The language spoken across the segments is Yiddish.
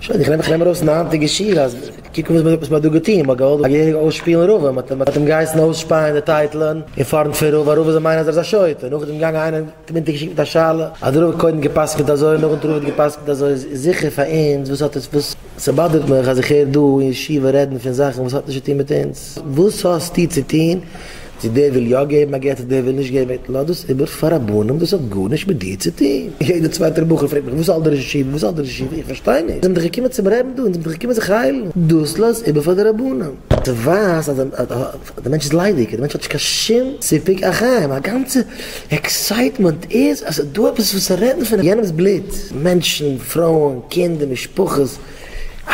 שוין איך נעם איך נעם ארויס אין היינטיגע שירה אז קוק וואס וואס מ'האט דא געטוהן מ'האט געוואלט א געהעריגע אויסשפילן רב און מ'האט אים געהייסן אויסשפייען די טייטלען אין פארנט פון רב א רב איז א מיינער אז ער איז א שוטה און נאכדעם איז געגאנגען איינער און האט אים אונטערגעשיקט מיט א שאלה אז דער רב האט קודם גע'פסק'ענט אזוי און נאכדעם האט דער רב גע'פסק'ענט אזוי איז זיכער פאר אונז וואס האט עס וואס ס'באדערט מיך אז איך הער דא אין ישיבה רעדן פון זאכן וואס האט נישט צוטוהן מיט אונז. וואס האסטו צו טון צו דער וויל יא געבן א גט אדער דער וויל נישט געבן א גט? לאז דאס איבער פאר רבנים, דאס האט גארנישט מיט דיר צו טון. יעדער צווייטער בחור פרעגט מיך וואס האלט דער ראש ישיבה, וואס האלט דער ראש ישיבה, איך פארשטיי נישט, אונז זעמיר דאך געקומען צום רעבן דא, אונז זעמיר דאך געקומען זיך היילן, דאס לאז איבער פאר די רבנים. דו ווייסט אז דער מענטש איז ליידיג, דער מענטש האט נישט קיין שום סיפוק החיים, א גאנצע עקסייטמענט איז אז ס'איז דא עפעס וואס צו רעדן פון יענעמ'ס בלוט, מענטשן, פרויען, קינדער, משפחות, אה!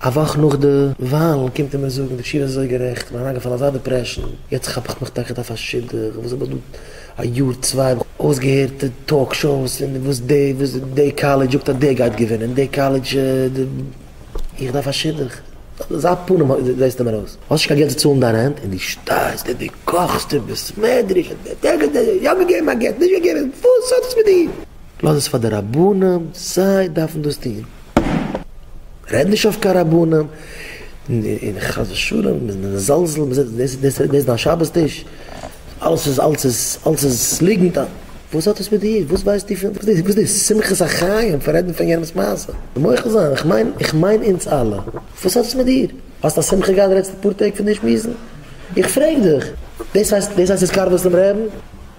א וואך נאך די וואלן קומט ער מיר זאגן, די תשובה איז אזוי גערעכט, מ'איז אריינגעפאלן אזא דיפרעשן, יעצט כאפ איך מיך טאקע דורך א שידוך, וואס האב איך דא א יאר צוויי האב איך אויסגעהערט די טאלק שאוס און וואס די וואס די קאלעדזש זאגט אז די גייט געווינען און די קאלעדזש די, איך דארף א שידוך, אזא פנים זעסטו מיר אויס, האסט נישט קיין געלט צו צאלן דיין רענט און דו שטייסט און דו קאכסט און ביסט מעדריש און דעדעדעדע, יא געגעבן א גט, נישט געגעבן, וואס האט עס מיט דיר? לאז עס פאר די רבנים, זיי דארפן דאס טון. רעד נישט אויף קיין רבנים, און חס ושלום מזלזל, דאס איז דיין שבת טיש? אלעס איז, אלעס איז, אלעס איז ליגנט, וואס האט עס מיט דיר? וואס ווייסטו פון, וואס איז דאס שמחת החיים פון רעדן פון יענעמ'ס מעשה? מוחל זיין, איך מיין, איך מיין אונז אלע, וואס האט עס מיט דיר? האסט א שמחה געהאט די לעצטע פאר טעג פון דיר שמועסן? איך פרעג דיך, דאס הייסט, דאס הייסט התקרבות צום רעבן?